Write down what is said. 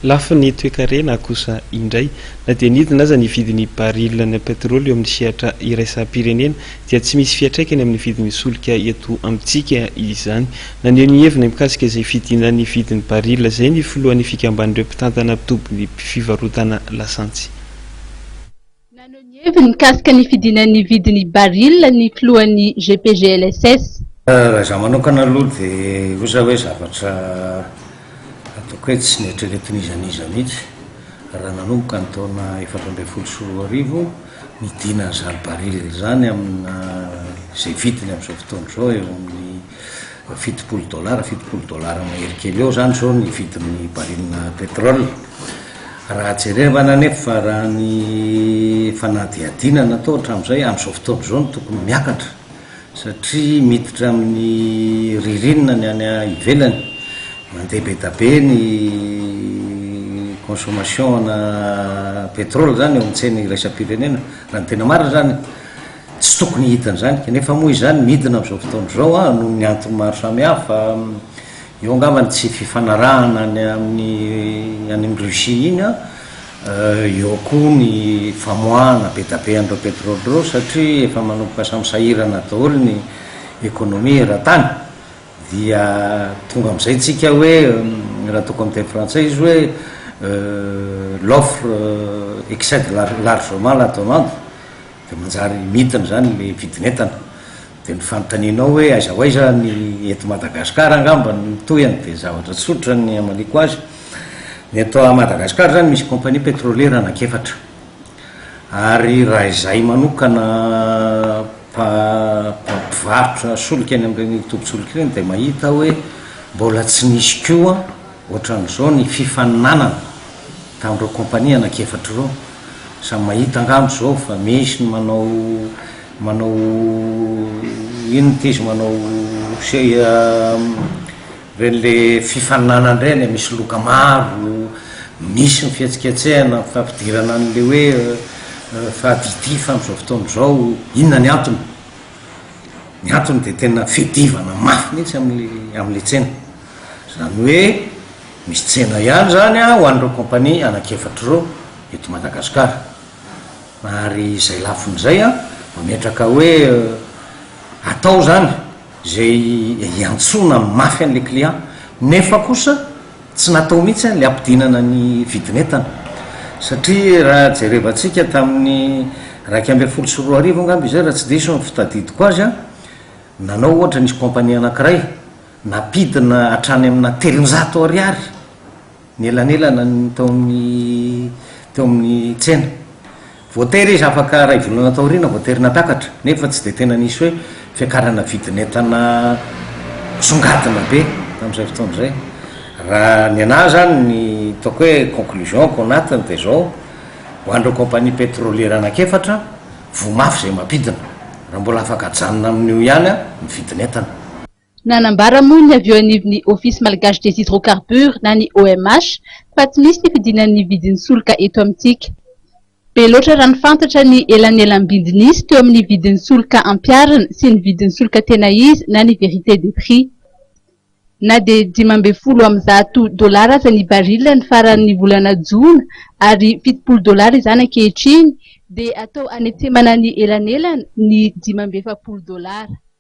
Lafiny toekarena kosa indray, na dia nidina aza ny vidin'ny baril ny petrole eo amin'ny sehatra iraisam-pirenena dia tsy misy fiantraikany amin'ny vidin'ny solika eto amintsika izany. Naneho ny heviny mikasika izay fidinan'ny vidin'ny baril izay ny filohan'ny fikamban'ireo mpitantana tobin'ny fivarotana lasantsy. Naneho ny heviny mikasika ny fidinan'ny vidin'ny baril ny filohan'ny GPGLSS. Raha izaho manokana aloha dia osa hoe zavatra ataoko hoe tsy neritreretin'iza n'iza mihitsy raha nanomboka ny taona efatra ambin'ny folo sy roa arivo ny dinan'izany baril izany amina izay vidiny amin'izao fotoana izao eo amin'ny fitopolo dolara, fitopolo dolara mahery kely eo izany izao ny vidin'ny baril petrol. Raha jerevana anefa raha ny fanadihadiana natao hatramin'izay, amin'izao fotoana izao no tokony miakatra satria miditra amin'ny ririnina ny any ivelany, mandeha be da be ny consommation-na pétrole izany eo amin'ny tsena iraisam-pirenena, raha ny tena marina izany tsy tokony hidina izany, kanefa moa izany midina amin'izao fotoana izao an, noho ny antony maro samihafa, Eo angamba ny tsy fifanarahana any amin'ny any amin'i Russie iny an, eo koa ny famoahana be da be an'ireo petrole ireo satria efa manomboka samy sahirana daholo ny economie eran-tany dia tonga amin'izay tsika hoe raha tokony miteny frantsay izy hoe l'offre excède largement la demande dia manjary mintina izany ilay vidin'entana. Dia ny fanontanianao hoe aiza ho aiza ny eto Madagascar angamba no tohiny dia zavatra tsotra ny hamaliako azy. Ny eto Madagascar izany misy compagnie pétrolière anankiefatra. Ary raha izahay manokana mpivarotra solika eny amin'ireny tobin-tsolika ireny dia mahita hoe mbola tsy nisy koa Ohatran'izao ny fifaninanana tamin'ireo kompania anankiefatra ireo. Samy mahita angamba izao fa misy ny manao manao inona ity izy manao ireny le fifaninanana ireny e, misy loka maro, misy ny fihetsiketsehana, ny fampidirana an'ilay hoe fahadidifa amin'izao fotoana izao. Inona ny antony? Ny antony dia tena fiadivana mafy mihitsy amin'ilay amin'ilay tsena. Izany hoe misy tsena ihany izany ho an'ireo kaompania anankiefatra ireo eto Madagasikara. Ary izay lafiny izay mametraka hoe atao izany izay hiantsoana mafy an'ilay client nefa kosa tsy natao mihitsy ilay hampidinana ny vidin'entana. Satria raha jerevantsika tamin'ny iraika ambin'ny folo sy roa arivo angamba izay raha tsy diso ny fitadidiko azy, nanao ohatra nisy kaompania anankiray, Nampidina hatrany amina telonjato ariary ny elanelana tao amin'ny teo amin'ny tsena. Voatery izy afaka iray volana taoriana voatery natakatra, nefa tsy dia tena nisy hoe fiakarana vidin'entana misongadina be tamin'izay fotoana izay. Raha ny an'ahy izany ny ataoko hoe conclusion-ko ao anatiny dia izao, ho an'ireo compagnie pétrolière anankiefatra, voa mafy izay mampidina, raha mbola afaka ajanona amin'io ihany ny vidin'entana. Nanambara moa ny avy eo anivon'ny Office Malgache des Hydrocarbures na ny OMH fa tsy misy ny fidinan'ny vidin'ny solika eto amintsika. Be loatra raha ny fantatra ny elanelam-bidy nisy teo amin'ny vidin'ny solika ampiharina sy ny vidin'ny solika tena izy na ny vérité des prix. Na dia dimy ambin'ny folo amby zato dolara aza ny baril ny faran'ny volana jona ary fitopolo dolara izany ankehitriny dia atao hanetsemana ny elanelana ny dimy amby efapolo dolara.